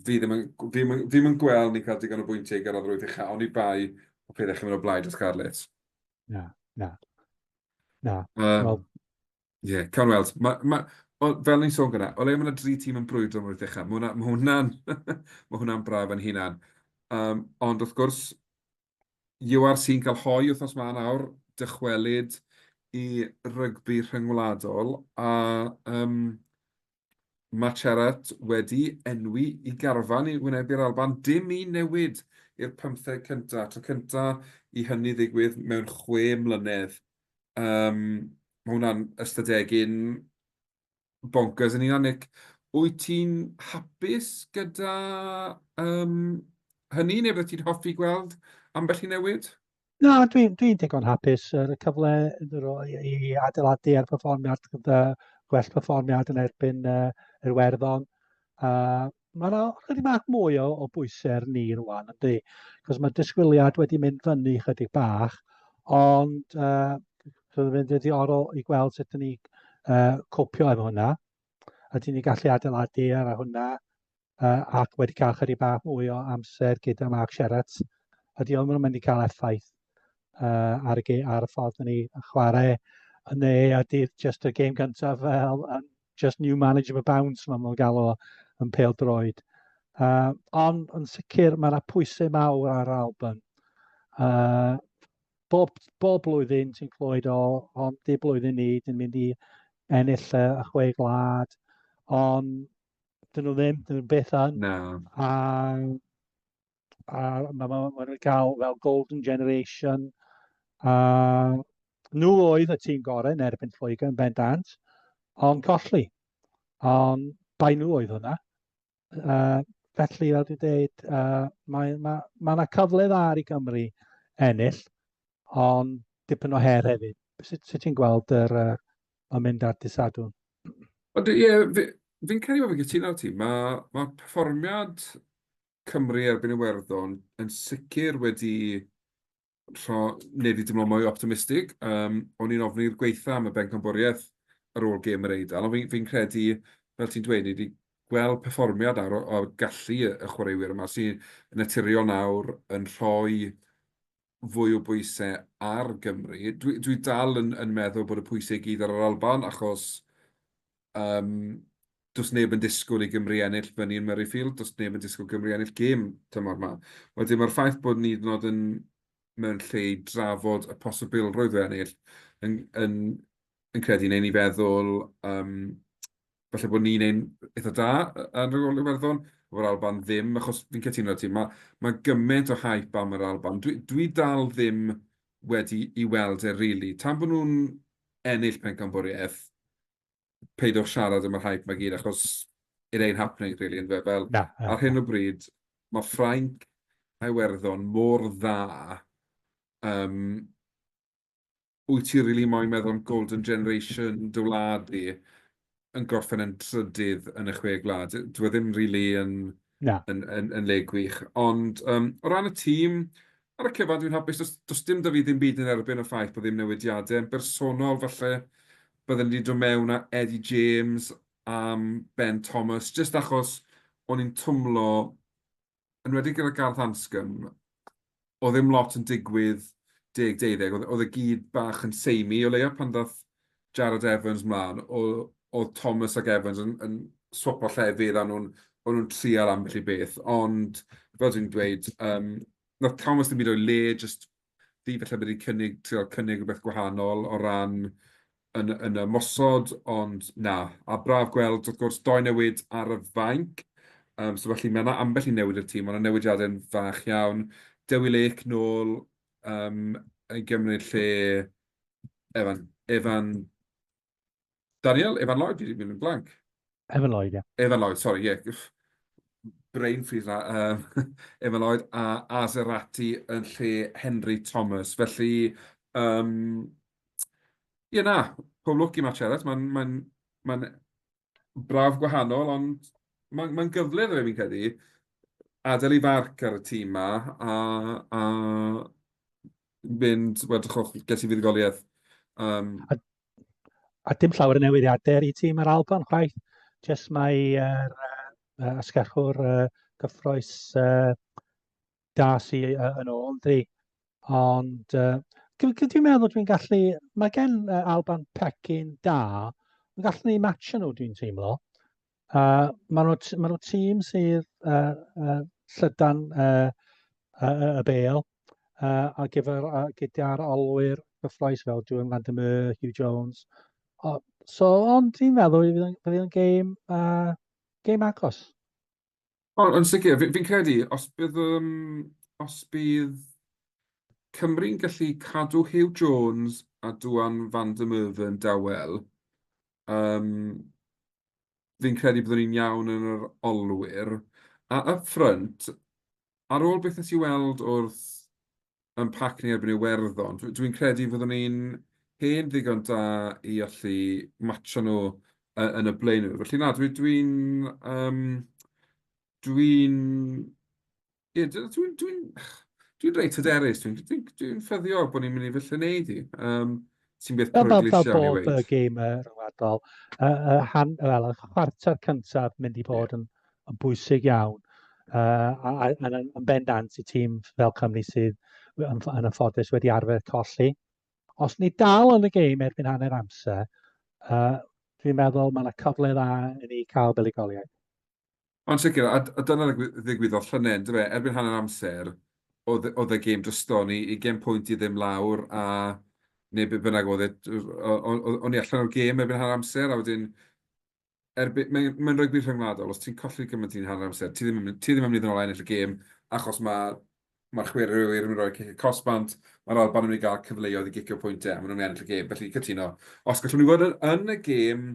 A: fi ddim yn, fi ddim yn, fi ddim yn gweld ni'n cael digon o bwyntiau i gyrraedd yr wyth ucha, ond i bai o pethau chi'n mynd o blaid y Scarlets. Na, na,
B: na. Um, well,
A: Ie, cawn weld. Ma' ma'... o, fel o'n i'n sôn gyna', o leia' ma' 'na dri tîm yn brwydro am yr wyth ucha', ma' hwnna ma' hwnna'n ma' hwnna'n braf yn hunan. Yym, ond wrth gwrs, URC yn cael hoe wythnos 'ma nawr, dychwelyd i rygbi rhyngwladol, a yym Mae Charat wedi enwi i garfan i wynebu'r Alban, dim un newid i'r pymtheg cyntaf, tro cyntaf i hynny ddigwydd mewn chwe mlynedd. Yym, mae hwnna'n ystadegyn bonkers yn hunan. Nick, wyt ti'n hapus gyda yym hynny, neu byddet ti'n hoffi gweld ambell i newid? Na,
B: dwi'n dwi digon hapus ar y cyfle i adeiladu ar perfformiad gyda gwell perfformiad yn erbyn uh, yr werddon. Uh, mae yna chydig bach mwy o, o bwysau ar ni rwan, ydy. Cos mae disgwyliad wedi mynd fyny chydig bach, ond uh, roedd yn fynd wedi oro i gweld sut ni uh, copio efo hwnna. A ti'n ni gallu adeiladu ar hwnna. uh, ac wedi cael chydig bach mwy o amser gyda Mark Sherratt, ydy o'n mynd i cael effaith uh, ar, y, ar y ffordd ni chwarae yn ne, a dydd just y game gyntaf fel uh, just new management bounds, mae'n nhw'n galw yn pel droed. Uh, ond yn sicr mae yna pwysau mawr ar Alban. Uh, bob, bob blwyddyn ti'n clywed o, ond di blwyddyn ni, dyn mynd i ennill y chwe glad, ond Dyn nhw ddim, dyn nhw'n beth an.
A: Na.
B: A, a mae ma, ma nhw'n cael fel golden generation. A nhw oedd y tîm gorau yn erbyn Lloegr yn bendant, ond colli. Ond bai nhw oedd hwnna. Uh, felly, fel dwi'n dweud, uh, mae yna ma, ma cyfle dda ar i Gymru ennill. ond dipyn o her hefyd. Sut, sut ti'n gweld yr, uh, mae'n mynd ar dy sadwn? Ond ie,
A: yeah, fi'n fi credu bod fi'n cytuno ti. Mae ma perfformiad Cymru erbyn Iwerddon yn sicr wedi rho, neu fi dymlo mwy optimistig. Um, o'n i'n ofn i'r gweitha am y bencampwriaeth ar ôl gêm yr Eidal, ond fi'n fi, fi credu, fel ti'n dweud, ni wedi gweld perfformiad ar, o gallu y chwaraewyr yma sy'n naturiol nawr yn rhoi fwy o bwyse ar Gymru. Dwi dwi dal yn yn meddwl bod y pwyse i gyd ar yr Alban achos um, does neb yn disgwyl i Gymru ennill fyny yn Murrayfield, does neb yn disgwyl Gymru ennill gêm tymor yma. Wedyn mae'r ffaith bod ni nod yn mewn lle i drafod y posibilrwydd o ennill yn, yn, yn credu neu ni feddwl um, falle bod ni'n ein eitha da yn yr Iwerddon, o'r Alban ddim, achos fi'n cytuno 'da ti, ma' ma' gyment o hype am yr Alban. Dwi dwi dal ddim wedi i weld e rili. Tan bo' nhw'n ennill pencampwriaeth, peidiwch siarad am yr hype 'ma gyd, achos it ain't happening rili, yndyfe? Fel, Na, na, ar hyn o bryd, mae Ffrainc a Iwerddon mor dda, um, Wyt ti rili moyn meddwl am golden generation dy wlad di yn gorffen yn trydydd yn y chwe gwlad? Dyw e ddim rili yn... Na. ...yn
B: yn yn le
A: gwych. Ond yym o ran y tîm, ar y cyfan dwi'n hapus. Does does dim 'da fi ddim byd yn erbyn y ffaith bod ddim newidiadau. Yn bersonol falle bydden i 'di dod mewn â Eddie James am Ben Thomas, jyst achos o'n i'n twmlo enwedig gyda Garth Anscombe, oedd ddim lot yn digwydd deg deuddeg, oedd oedd e gyd bach yn samey, o leia pan ddaeth Jarrod Evans 'mlan, o- oedd Thomas ac Evans yn yn swapo llefydd a nhw'n o'n nhw'n trial ambell i beth, ond fel dwi'n dweud, yym, wnaeth Thomas ddim byd o'i le, jyst fi falle wedi cynnig, trio cynnig rhywbeth gwahanol o ran yn yn ymosod, ond na. A braf gweld, wrth gwrs, dou newid ar y fainc. Um, so felly mae yna ambell i newid i'r tîm, ond y newidiadau'n fach iawn. Dewi Lake nôl um, i gymryd lle Evan, Evan Daniel, Evan Lloyd, fi wedi mynd yn blank. Evan Lloyd,
B: ie. Evan Lloyd, sori, ie. Yeah.
A: Brain freeze la. Um, Evan Lloyd a Azerati yn lle Henry Thomas. Felly, um, ie yeah, na, pob lwc i Matt Ellis. Mae'n ma ma braf gwahanol, ond mae'n ma gyfle dda fi'n credu adael i farc ar y tîm ma a, a mynd, wel drychwch, ges i fuddugoliaeth. Um... A,
B: a dim llawer o newidiadau i tîm yr Alban, chwaith. Jes mae yr uh, asgellwr uh, gyffroes uh, da sy uh, yn ôl, dwi. Ond uh, dwi'n meddwl dwi'n gallu, mae gen uh, Alban pecyn da, Mae'n gallu ni match nhw dwi'n teimlo. A maen nhw, t- maen nhw tîm sydd uh, uh, llydan uh, uh, y bel uh, a gyfer, uh, gyda'r olwyr gyffroes fel Julian Van der Merwe, Hugh Jones. O, so, ond dwi'n meddwl bydd yn gêm, uh, gêm agos. O,
A: yn sicr. Fi fi'n credu os bydd yym os bydd Cymru'n gallu cadw Huw Jones a Duan van der Merwe dawel, yym fi'n credu byddwn ni'n iawn yn yr olwyr. A up front, ar ôl beth wnes i weld wrth yn pac ni erbyn Iwerddon. Dw dwi'n credu fyddwn ni'n hen ddigon da i allu matsio nhw y- yn y blaenwyr. Felly na, dwi dwi'n yym dwi'n ie dw- dwi'n dwi'n dwi'n reit hyderus. Dwi'n dwi'n dwi'n ffyddiog bod ni'n mynd i falle wneud hi. Yym. Ti'n beth Fel bod, fel bod y gêm y
B: rhyngwladol, y, y, han, wel, y chwarter cyntaf mynd i bod yn, yn bwysig iawn. Uh, a, a, a, yn bendant i tîm fel Cymru sydd yn, yn y ffodus wedi arfer colli. Os ni dal yn y gêm erbyn hanner amser, uh, dwi'n meddwl mae yna cyfle dda i ni cael buligoliaeth. Yn
A: sicr, a dyna ddigwyddodd llynedd, yn do fe? Erbyn hanner amser, oedd y gêm dryston ni, ugain pwynt i ddim lawr, a neu be bynnag oedd e, o'n ni allan o'r gêm erbyn hanner amser, a wedyn, mae'n rygbi rhyngwladol, os ti'n colli gymaint yn hanner amser, ti ddim yn mynd i ddod nôl a ennill y gêm, achos mae'r chwaraewyr yn mynd i roi cic y cosb bant, mae'r Alban yn mynd i gael cyfleoedd i gicio pwyntiau, a maen nhw'n mynd i ennill y gêm, felly cytuno. Os gallwn ni fod yn y gêm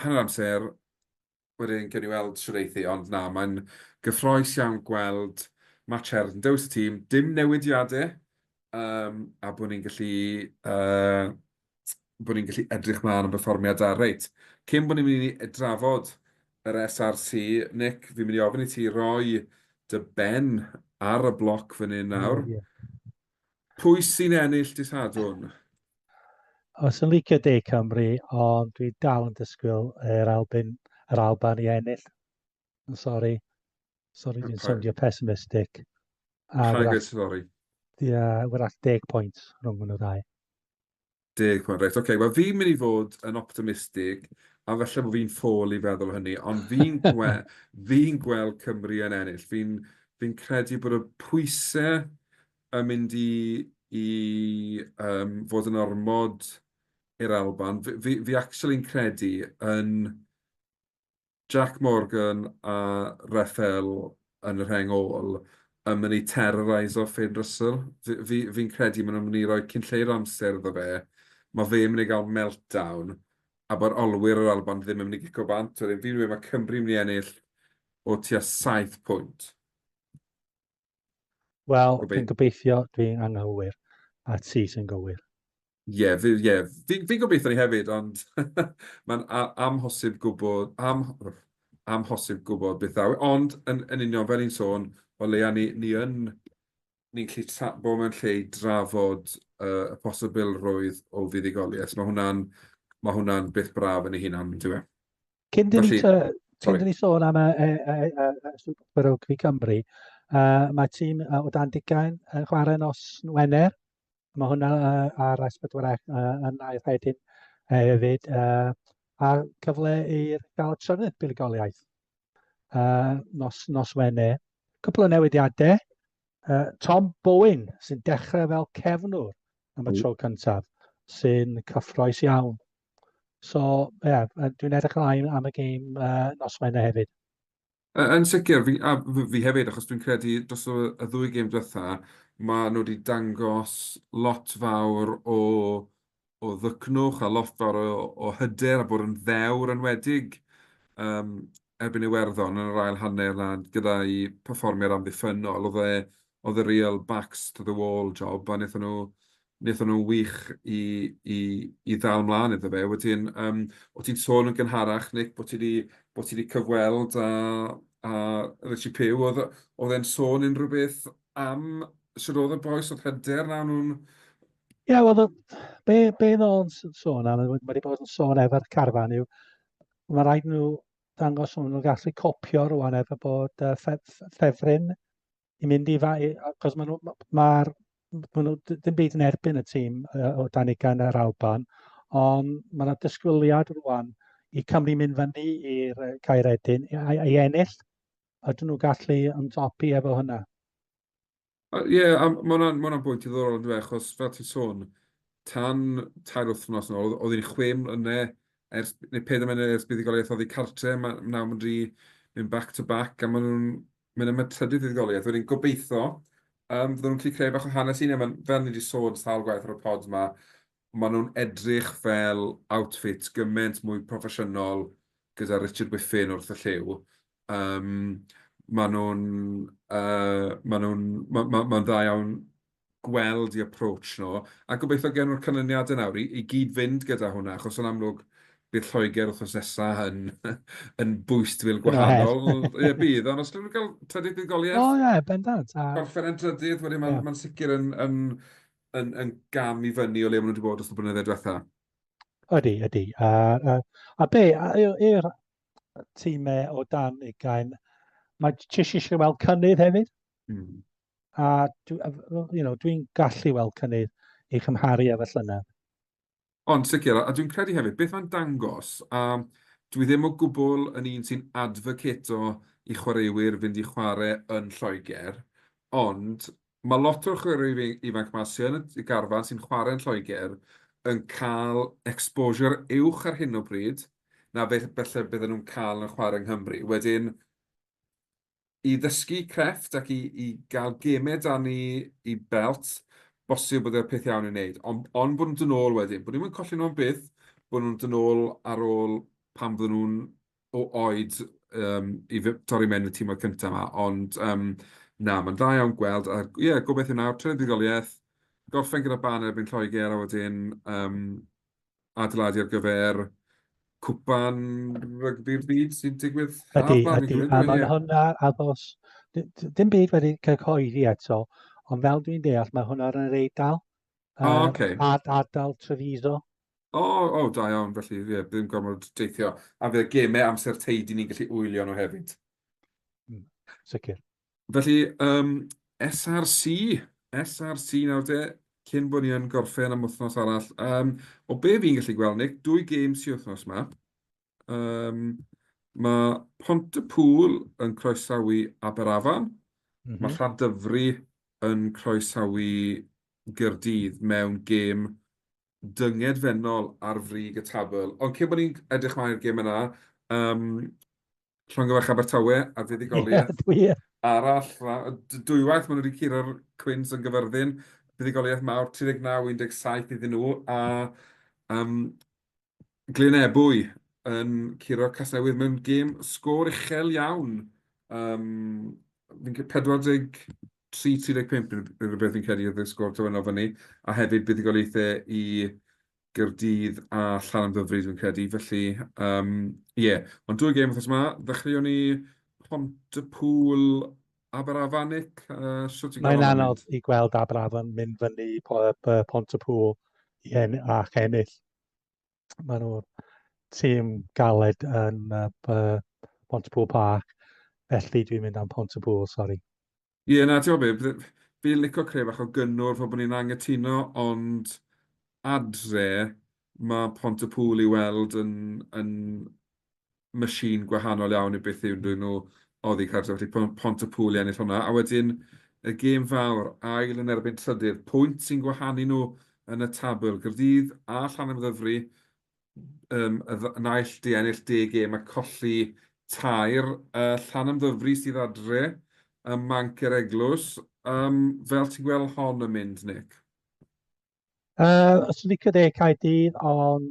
A: hanner amser wedyn gewn ni weld shwd eith hi, ond na, mae'n gyffrous iawn gweld Matt Sherwood yn dewis y tîm, dim newidiadau, um, a bod ni'n gallu, uh, bod ni'n gallu edrych mlaen am berfformiad da. Reit, cyn bod ni'n mynd i drafod yr SRC, Nick, fi'n mynd i ofyn i ti roi dy ben ar y bloc fan hyn nawr. Mm, yeah.
B: Pwy
A: sy'n ennill dy Sadwrn?
B: Os yn licio De Cymru, ond dwi dal yn disgwyl yr Alban, yr Alban i ennill. Yn sori. Sori, dwi'n sowndio pessimistic. Paid gwneud sori.
A: Ie, wrach
B: deg pwynt rhwng hwnnw ddau. Deg
A: punt, reit ok. Wel fi'n mynd i fod yn optimistig, a falle bod fi'n ffôl i feddwl hynny, ond fi'n gwe- fi'n gweld Cymru yn ennill. Fi'n fi'n credu bod y pwysau yn mynd i i yym fod yn ormod i'r Alban. Fi fi fi actually'n credu yn Jac Morgan a Rafael yn y rheng ôl yn mynd i terroreiso Finn Russell. Fi fi fi'n credu maen nhw'n mynd i roi cyn lleied o amser iddo fe. Mae fe'n mynd i gael meltdown a bod olwyr yr Alban ddim yn mynd i gico bant. Wedyn fi'n mynd mae Cymru'n mynd i ennill o tua saith pwynt.
B: Wel, dwi'n gobeithio dwi'n anghywir a ti sy'n gywir. Ie, fi,
A: ie, fi, fi gobeithio ni hefyd, ond mae'n amhosib gwybod, am, amhosib gwybod beth ddaw. Ond yn, yn union fel i'n sôn, o leia ni, ni yn, ni'n lle tra, bod mewn lle i drafod uh, y posibilrwydd o fuddugoliaeth. Mae hwnna'n ma hwnna beth braf yn ei hunan, dwi'n meddwl. Cyn dyn ni,
B: cyn dyn ni sôn
A: am y,
B: y, y, y, y Super Rugby Cymru, uh, mae tîm uh, o dan digain yn chwarae nos Wener. Mae hwnna uh, ar S4 uh, yn ail rhedyn uh, hefyd. Uh, a cyfle i'r gael trynydd buligoliaeth uh, nos, nos Wener. Cwpl o newidiadau. Uh, Tom Bowen sy'n dechrau fel cefnwr am y tro cyntaf sy'n cyffroes iawn So, ie, yeah, dwi'n edrych ymlaen am y gêm uh, nos Wener hefyd. Yn
A: sicr, fi, a fi hefyd, achos dwi'n credu dros y ddwy gêm diwetha, mae nhw wedi dangos lot fawr o, o ddycnwch a lot fawr o, o hyder a bod yn ddewr yn wedig um, erbyn Iwerddon yn yr ail hanner a gyda'i perfformiad amddiffynnol, oedd e, oedd e real backs to the wall job a wnaethon nhw, wnaethon nhw'n wych i, i, i ddal mlaen iddo fe. Wedyn, um, o ti'n sôn yn gynharach, Nick, bod ti wedi, bod ti wedi cyfweld a, a Richie Pugh, oedd, oedd e'n sôn unrhyw beth am sydd oedd y boes oedd hyder na nhw'n Ie,
B: wel, be, be ddod o'n sôn am, mae wedi bod yn sôn efo'r carfan yw, Mae rhaid nhw ddangos nhw'n nhw'n gallu copio rwan efo bod uh, ffefryn i mynd i fa... Cos mae nhw... Mae'r... Mae nhw ddim byd yn erbyn y tîm uh, o dan ugain yr Alban, ond mae yna dysgwyliad rwan i Cymru mynd fyny i'r Caeredin i, i ennill. Ydyn nhw gallu ymdopi efo hynna?
A: Ie, a ma' hwnna'n ma' hwnna'n bwynt diddorol yndyw e, achos fel ti'n sôn, tan tair wythnos yn ôl, oedd oedd hi'n chwe mlynedd ers, neu peder mlynedd ers buddugoliaeth oddi cartre, a ma' nawr maen nhw 'di mynd back to back, a maen nhw'n mynd am y trydydd fuddugoliaeth. Wedyn gobeitho, yym, fyddan nhw'n gallu creu bach o hanes 'u hunain. Ma'n, fel ni 'di sôn sawl gwaith ar y pod 'ma, maen nhw'n edrych fel outfit gymaint mwy proffesiynol gyda Richard Whiffen wrth y llyw. Yym maen nhw'n yy maen nhw'n ma' ma' ma'n dda iawn gweld eu approach nhw, a gobeithio gawn nhw'r canlyniadau nawr i i gyd-fynd gyda hwnna, achos yn amlwg bydd Lloegr wythnos nesa yn yn bwystfil gwahanol. Bydd o her. Ie bydd, ond os gawn nhw gael trydydd buddugoliaeth... O ie, bendant a...
B: Gorffen yn drydydd
A: wedyn ma'n... Ie. ...ma'n sicr yn yn yn, yn gam i fyny o le maen nhw wedi bod wrth y blynyddoedd diwetha. Ydy, ydy.
B: A, a, a be, i'r tîmau o dan ugain, mae jyst eisiau weld cynnydd hefyd. Mm. A you know, dwi'n gallu weld cynnydd i chymharu efo llynedd. Ond
A: sicr, a dwi'n credu hefyd, beth mae'n dangos, a dwi ddim o gwbl yn un sy'n adfocato i chwaraewyr fynd i chwarae yn Lloegr, ond mae lot o'r chwaraewyr ifanc 'ma sy yn y garfan sy'n chwarae yn Lloegr yn cael exposure uwch ar hyn o bryd na beth falle bydden nhw'n cael yn chwarae yng Nghymru. Wedyn, i ddysgu crefft ac i gael gemau 'da ni i belt, bosib bod e'r peth iawn i'w wneud. Ond bod nhw'n dod nôl wedyn. Bod ni'm yn colli nhw am byth, bod nhw'n dod nôl ar ôl pan fydden nhw'n o oed i torri mewn i'r tîmoedd cynta 'ma. Ond na, mae'n dda iawn gweld. A ie, gobeithio nawr, trydydd buddugoliaeth, gorffen gyda Barn erbyn Lloegr a wedyn adeiladu ar gyfer cwpan rygbi'r byd sy'n digwydd haf ydy, ydy, ydy, a
B: mae
A: hwnna
B: athos, dim byd wedi cyhoeddi eto, ond fel dwi'n deall mae hwnna ar yr eidl, uh, oh, okay.
A: ad, adal Treviso.
B: O, oh, oh, da
A: iawn, felly ie, yeah, ddim gormod deithio. A fe gemau amser teidi ni'n gallu wylio nhw hefyd. Mm,
B: sicr. Felly,
A: yym, SRC, SRC nawr te, cyn bod ni yn gorffen am wythnos arall. Yym, o be fi'n gallu gweld, Nick, dwy gêm sy wythnos 'ma. Yym, mae Pontypŵl yn croesawu Aberafan. Mm -hmm. Mae Llandyfri yn croesawu Gyrdydd mewn gêm dyngedfennol ar frig y tabl. Ond cyn bod ni'n edrych mlaen i'r gêm yna, um, Llongyfarch Abertawe a fuddugoliaeth
B: yeah,
A: arall. Dwywaith maen nhw wedi curo'r Cwins yn gyfyrddin. Fuddugoliaeth mawr, 39-17 iddyn nhw. A um, Glyn Ebwy yn curo Casnewydd mewn gêm sgôr uchel iawn. Um, fi'n 40 3.35 rhywbeth fi'n credu oedd y sgôr terfynol fyny, a hefyd buddugoliaethau i Gaerdydd a Llanymddyfri dwi'n credu, felly yym ie. Ond dwy gêm wythnos 'ma, ddechreuon ni Pontypŵl, Aberafanik, shwt ti'n gweld hwnna'n mynd? Mae'n anodd i gweld Aberafan
B: mynd fyny i Pontypŵl ac ennill. maen nhw'n tîm galed yn uh, Pontypool Park, felly dwi'n mynd am Pontypool, sori. Ie, yeah, na, ti'n
A: gwybod fi'n licio creu bach o gynnwr fel bod ni'n angytuno, ond adre mae Pontypool i weld yn, yn machine gwahanol iawn i beth yw nhw nhw oddi cartref felly Pont Pontypŵl i ennill hwnna a wedyn y gêm fawr ail yn erbyn trydydd pwynt sy'n gwahanu nhw yn y tabl Caerdydd a Llanymddyfri yym y dd- naill di ennill deg gêm a colli tair yy Llanymddyfri sydd adre ym Manc yr Eglwys yym fel ti'n gweld hon yn mynd Nick?
B: Uh, os ti'n licio deg cael dydd, ond,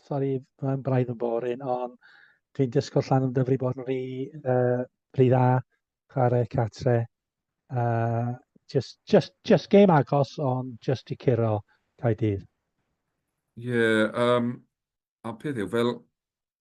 B: sori, mae'n braidd yn borin, ond dwi'n dysgu llan yn dyfru bod yn rhi, uh, rhi dda, chwarae catre. Uh, just, just, just game agos, ond just i curo cael dydd.
A: Ie, yeah, um, a peth yw, fel,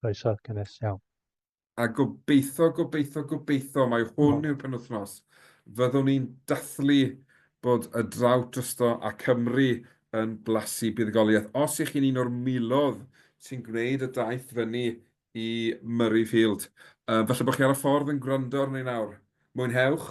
A: Croeso
B: cynnes iawn. A
A: gobeitho, gobeitho, gobeitho, mai hwn yw'r penwythnos, fyddwn ni'n dathlu bod y drought drosto a Cymru yn blasu buddugoliaeth. Os y'ch chi'n un o'r milodd sy'n gwneud y daith fyny i Murrayfield, falle bod chi ar y ffordd yn gwrando arno ni nawr, mwynhewch